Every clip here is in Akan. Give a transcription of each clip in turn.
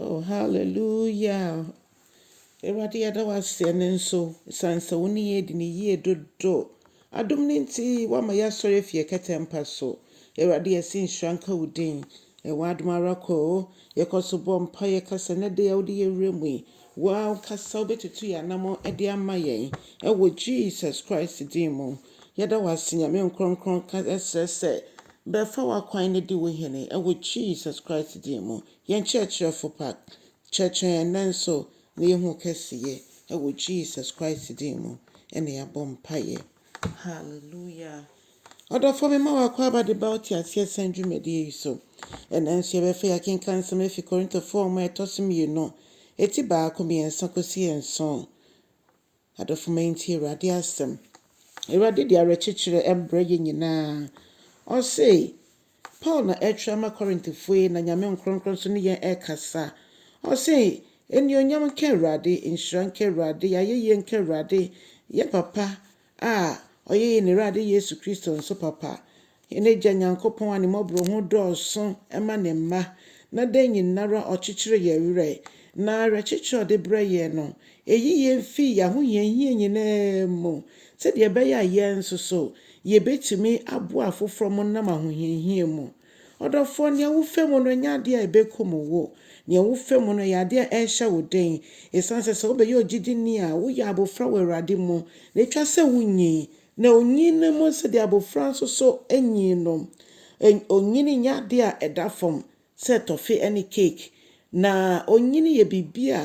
Oh hallelujah Awurade yɛda wo ase ɛne nso ɛsiane sɛ wo ne yɛn adi ne yie dodo adom no nti woama yɛasɔre afi yɛ kɛtɛmpa so Awurade yɛse nhyira nka wo din ɛwɔ adom ara kɔ o yɛkɔ so bɔ mpa yɛka sɛ ne de a wode yɛwura mu yi woa wokasa wobɛtutu yɛ anamɔ de ama yɛn ɛwɔ Jesus Christ din mu yɛda wo ase nyame nkorɔnkorɔn ka ɛsrɛ sɛ Bɛfa w'akwan na di wo hene wɔ Jesus Christ din mu. Yɛn Kyerɛkyerɛfo pa, kyerɛkyerɛ yɛn nnɛ nso na yɛahu wo kɛseyɛ wɔ Jesus Christ din mu na yɛabɔ mpaeɛ. Hallelujah. Ɔdɔfoɔ mema wo akwaaba de ba wo teaseɛ sɛn dwumadie yi so. Ɛnnɛ nso yɛbɛfa yi akenkan nsɛm afi Korintofoɔ nwoma a ɛtɔ so mmienu, ɛti baako, mmiɛnsa kɔsi nson. Adɔfo, montie Awurade asɛm. Awurade de awerɛkyekyerɛ mbrɛ yɛn nyinaa. Ɔse, Paul na ɛretwerɛ ama Korintofo yi, na Nyame nkrɔnkrɔn nso ne yɛn rekasa. Ɔse, Anuonyam nka Awurade, nhyira nka Awurade, ayɛyie nka Awurade, yɛn Papa a ɔyɛ yɛn Awurade Yesu Kristo nso Papa, Hɛn Egya Nyankopɔn a Ne mbɔborɔhunu dɔɔ sõ ma Ne mba, na dɛ nyinara ɔkyekyer hɛn werɛ, na awerɛkyekyer a ɔdze brɛ hɛn no, eyi hɛn fi ahohia hia nyinara mu, tsedeɛ ɛbɛyɛ a hɛn so so yebetumi aboa afoforɔ mo nam ahohia hia mu. Ɔdɔfoɔ, nea wofɛ mu no nyɛ adeɛ a ɛbɛkum wo. Nea wofɛ mu no yɛ adeɛ a ɛrehyɛ wo den, esiane sɛ sɛ wobɛyɛ ogyidini a, woyɛ abofra wɔ Awurade mu, na etwa sɛ wunyin Na onyin no mu sɛdeɛ abofra nso so nyin no. Onyin nyɛ adeɛ a ɛda fam sɛ tɔfe ne keeki. Na onyin yɛ biribi a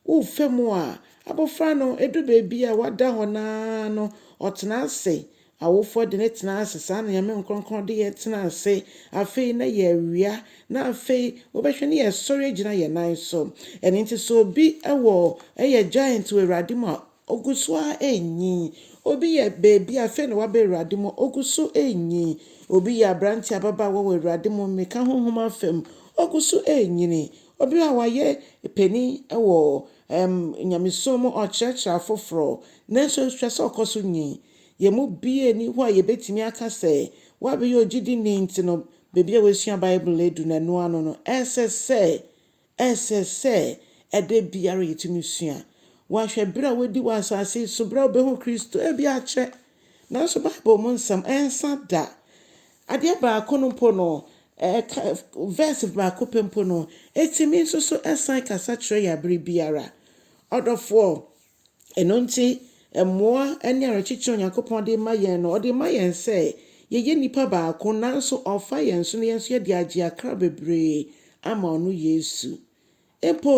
wofa mu a abofra no ɛdu baabi a wada hɔ no ara no ɔtena ase. Awofoɔ de no tena ase, saa na Nyame nkorɔnkorɔn de yɛn tena ase. Afei na yɛawia, na afei wobɛhwɛ na yɛsɔre agyina yɛn nan so. Ɛno nti sɛ obi wɔ, yɛ giant wɔ Awurade mu a, Ɔgu so ara renyin. Obi yɛ baabi a, afei na waba Awurade mu a, ɔgu so renyin. Obi yɛ aberante, ababaawa wɔ Awurade mu, mmirika honhom afa mu, ɔgu so renyini. Obi a wayɛ panin wɔ ɛm nyamesom mu, ɔrekyerɛkyerɛ afoforɔ, nanso hwɛ sɛ ɔkɔ so nyin. Yɛn mu biara nni hɔ a yɛbɛtumi aka sɛ wabɛyɛ ogyidini nti no, baabi a wasua Bible adu no, ɛno ano no, ɛsɛ sɛ Ɛsɛ sɛ ɛda biara yetumi sua. Woahwɛ bere a woadi wɔ asase so, bere a wubehu Kristo? Ebia akyɛ, nanso Bible mu nsɛm, ɛnsa da. Adeɛ baako no mpo no, ɛka, verse baako pɛ mpo no, etumi nso so san kasa kyerɛ yɛn bere biara. Ɔdɔfoɔ, Ɛno nti, mmoa ne awerɛkyekye a Onyankopɔn de rema yɛn no, ɔde rema yɛn sɛ yɛyɛ nnipa baako, nanso ɔrefa yɛn so na yɛn nso yɛde agye akra bebree ama ɔno Yesu. Mpo,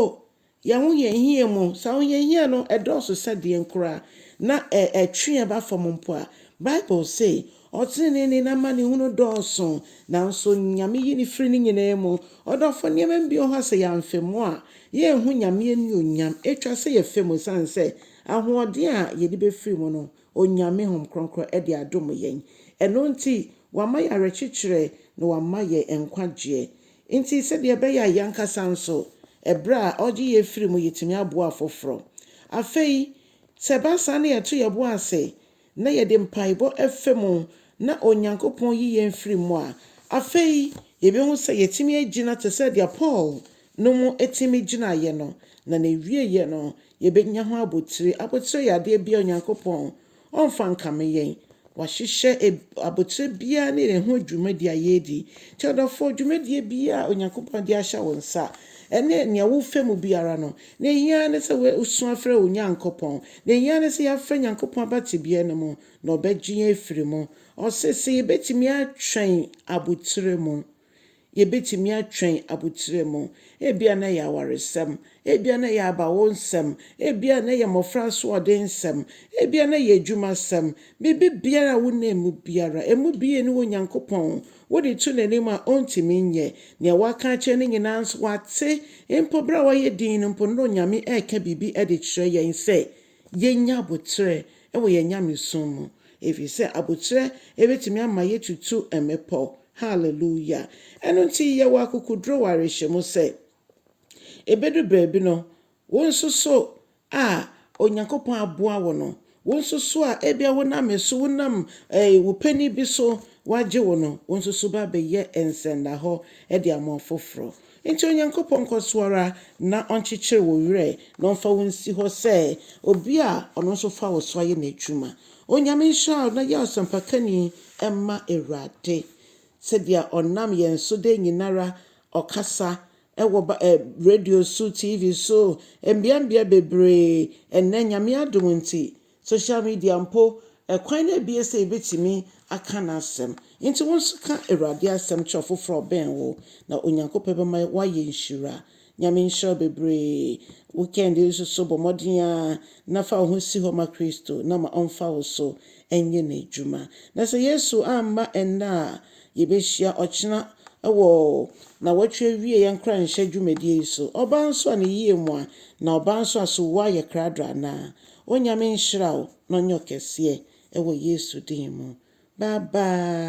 y'ahohiahia mu, sɛ ahohiahia no ɛdɔɔso sɛ deɛn koraa, na ɛtwe yɛn ba fam mpo a, Bible se, Ɔtreneeni no amanehunu dɔɔso, nanso Nyame yi no firi ne nyinaa mu. Ɔdɔfo, nneɛma no bi wɔ hɔ a sɛ yɛamfa mu a, yɛrenhu Nyame anuonyam. Etwa sɛ yɛfa mu esiane sɛ ahoɔden a yɛde befiri mu no, Onyame hom kronkron de adom yɛn. Ɛno nti, wama yɛn awerɛkyekyerɛ na wama yɛn nkwagyeɛ. Nti, sɛdeɛ ɛbɛyɛ a yɛn ankasa nso, ɛberɛ a ɔgye yɛn firi mu yɛtumi aboa afoforɔ. Afei, sɛ ɛba saa na yɛto yɛn bo ase na yɛde mpaebɔ fa mu na Onyankopɔn yi yɛn firi mu a, afei yɛbɛhu sɛ yɛtumi agyina te sɛ deɛ Paul no mu tumi gyinaeɛ no, na n'awieeɛ no yɛbɛnya ho abotire. Abotire yɛ adeɛ bi a Onyankopɔn ɔmfa nkame yɛn. Wahyehyɛ abotire biara ne ɛho dwumadie a yɛredi. Nti ɔdɔfoɔ, dwumadie biara a Onyankopɔn de ahyɛ wo nsa, ɛne nea wofa mu biara no, Nea ehia ara ne sɛ woasu afrɛ wo Nyankopɔn. Nea ehia ara ne sɛ yɛafrɛ Nyankopɔn aba tebea no mu, na ɔbɛgye yɛn afiri mu. Ɔse sɛ yɛbɛtumi atwɛn aboterɛ mu. Yɛbɛtumi atwɛn aboterɛ mu. Ebia na ɛyɛ awaresɛm. Ebia na ɛyɛ abawonsɛm. Ebia na ɛyɛ mmɔfra asoɔdensɛm. Ebia na ɛyɛ adwumasɛm. Biribi biara a wonam mu biara, ɛmu biara nni hɔ Onyankopɔn Wode to n'anim a, ɔrentumi nyɛ. Nea woaka akyerɛ no nyinaa nso, wate. Mpo bere a wayɛ dinn no mpo, nnɛ Onyame reka biribi de kyerɛ yɛn sɛ yennya aboterɛ wɔ yɛn nyamesom mu, efisɛ aboterɛ betumi ama yɛatutu mmepɔw. Haleluya! Ɛno nti, yɛwɔ akokoduru wɔ awerɛhyɛmu sɛ ebedu baabi no, Wo nso so a Onyankopɔn aboa wo no, wo nso so a ebia wonam me so, wonam wo panin bi so wɔagye wo no, wo nso so ba bɛyɛ nsɛndahɔ de ama ɔfoforɔ. Enti Onyankopɔn nkɔ so ara na ɔnkyekyere wo werɛ na ɔmfa wo nsi hɔ sɛ obi a ɔno nso fa wo so ayɛ n'adwuma. Onyame nhyira wo na yɛ ɔsɛmpakani mma Awurade sɛdeɛ ɔnam yɛn so da nyinara ɔkasa Ɛwɔ ba eh, radio so, TV so, mbeambea bebree. Ɛnnɛ, Nyame adom ntsi, social media mpo, kwan no abue sɛ yebetumi aka N'asɛm. Ntsi wo nso ka Ewurade asɛm kyerɛ ɔfofor a ɔbɛn wo, na Onyankopɔn bɛma woayɛ nhyira. Nyame nhyira wo bebree. Wo Kɛhinde yi nso so, bɔ mmɔden ara na fa wo ho si hɔ ma Kristo na ma ɔmfa wo so nyɛ N'edwuma. Na sɛ Yesu amma ɛnnɛ a, Yɛbɛhyia ɔkyena wɔ nawɔtwe awieɛ nkoranhyɛ dwumadie yi so. Ɔbaa nso a ne yie mu a na ɔbaa nso a so woa yɛ krado anaa? Onyame nhyira wo na ɔnyɛ ɔkɛseɛ wɔ Yesu din mu. Bye bye.